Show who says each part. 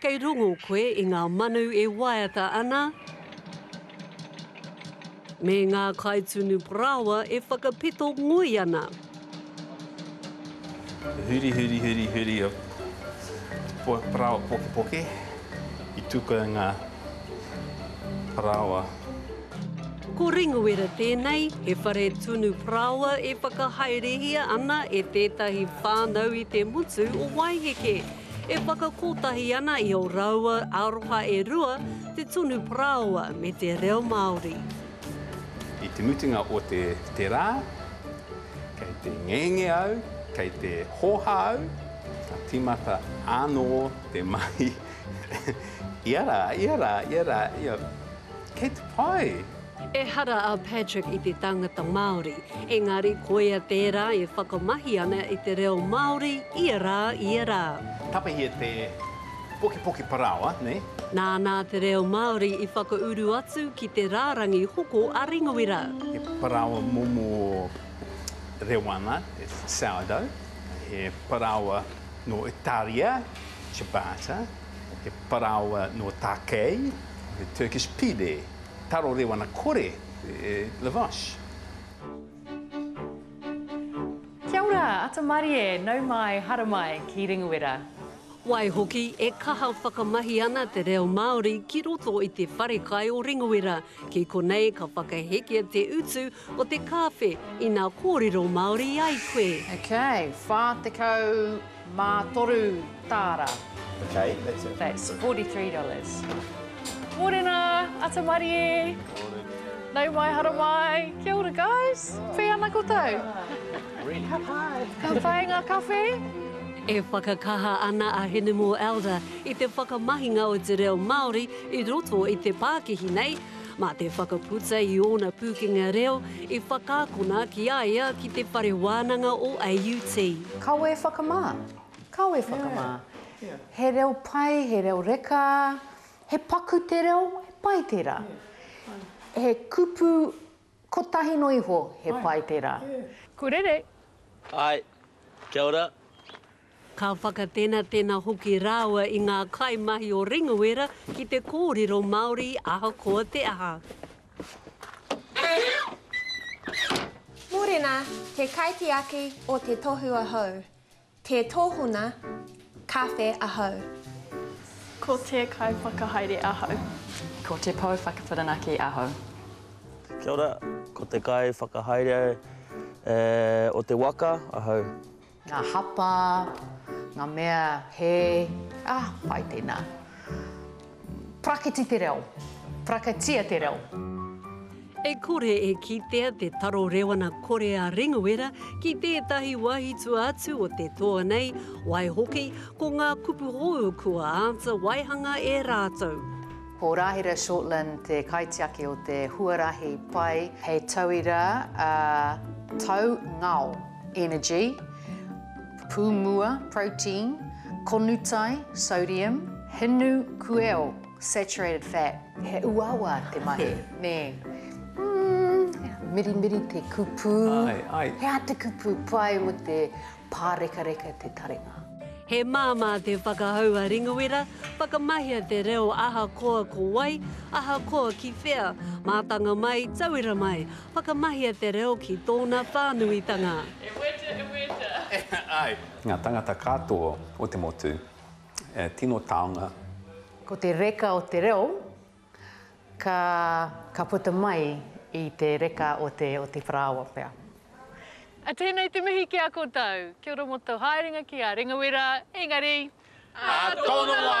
Speaker 1: Kei rongo koe i ngā manu e waiata ana, me ngā kaitunu parāoa e whakapito ngoi ana. Huri, huri, huri, huri o te parāoa pokepoke i tuku ai ngā parāoa. Ko Ringuera tēnei, he whare tunu parāoa e whakahaerehia ana e tētahi whānau i te motu o Waiheke. E whakakotahi ana i ō rāua aroha e rua te tonu parāoa me te reo Māori. I te mutunga o te te rā, kei te ngenge au, kei te hōhā au, ka tīmata ānō te mahi, ia rā, ia rā, ia rā, ia, kei te pai! Ehara a Patrick i te tangata Māori, engari koia tērā e whakamahi ana i te reo Māori ia rā, ia rā. Tapahia te pokipoki parāoa, nei. Nānā te reo Māori i whakauru atu ki te rārangi hoko a Ringawera. He parāoa momo reo ana, he sourdough, he parāoa nō Itāria, ciabatta, he parāoa nō Tākei, he Turkish pide. Taro Rewana Kore e Lavash. Kia ora, ata marie, nau mai, haramai, ki Ringuera. Waihoki, e kaha whakamahi ana te reo Māori ki roto i te wharekai o Ringuera, ki konei ka whakahekia te utu o te kāwhe ina kōrero Māori ai koe. Okay, 40. Mā toru tāra. Okay, that's it. That's $43. Morena, ata marie. Morena. Nau mai, hara mai. Kia ora, guys. Whee ana koutou? Ka pai. Ka pai ngā kawhe? E whakakaha ana a Hinemore Elder i te whakamahinga o te reo Māori i roto i te pākihi nei, Mā te whakaputa i ōna pūkenga reo i whakaakona ki a ia ki te whare wānanga o AUT. Kawe whakamā, kawe whakamā. He reo pai, he reo reka, he paku te reo, he pai tērā. He kupu kotahi noa iho, he pai tērā. Kurere! Hi. Kia ora. Ka whakatenatena hoki rāua i ngā kaimahi o Ringawaera ki te kōrero Māori ahakoa te aha. Mōrena, te kaitiaki o te tohu ahau, tē tōhona kawhe ahau. Ko te kaiwhakahaere ahau. Ko te pou whakawhirinaki ahau. Kia ora, ko te kaiwhakahaere o te waka ahau. Ngā hapa, ngā mea he, ah, pai tēnā. Praketi te reo. Praketia te reo. E kore e kitea te taro rewana kore a Ringawiera ki tētahi wahitua atu o te toa nei, waihoki, ko ngā kupu hou kua āta waihanga e rātou. Ko Rahira Shortland te kaitiaki o te huarahi pai hei tauira, a, tau ngao. energy, pūmua, protein, konutai, sodium, hinu, kueo, saturated fat. He uawa te mahi, nē. Mmm, mirimiri te kupu. Ai, ai. He aha te kupu pai mō te pārekareka te taringa? He māmā te whakahau a Ringawera, whakamahia te reo ahakoa ko wai, ahakoa ki whea, mātanga mai, tauira mai, Whakamahia te reo ki tōna whānuitanga. E weta, e weta. Ai. Ngā tangata katoa o te motu, e tino taonga. Ko te reka o te reo, ka, ka puta mai i te reka o te, o te parāoa pea. A tēnei te mihi ki a koutou. Kia ora mo tou haerenga ki a Rengawera, engari. Ā tōna wā!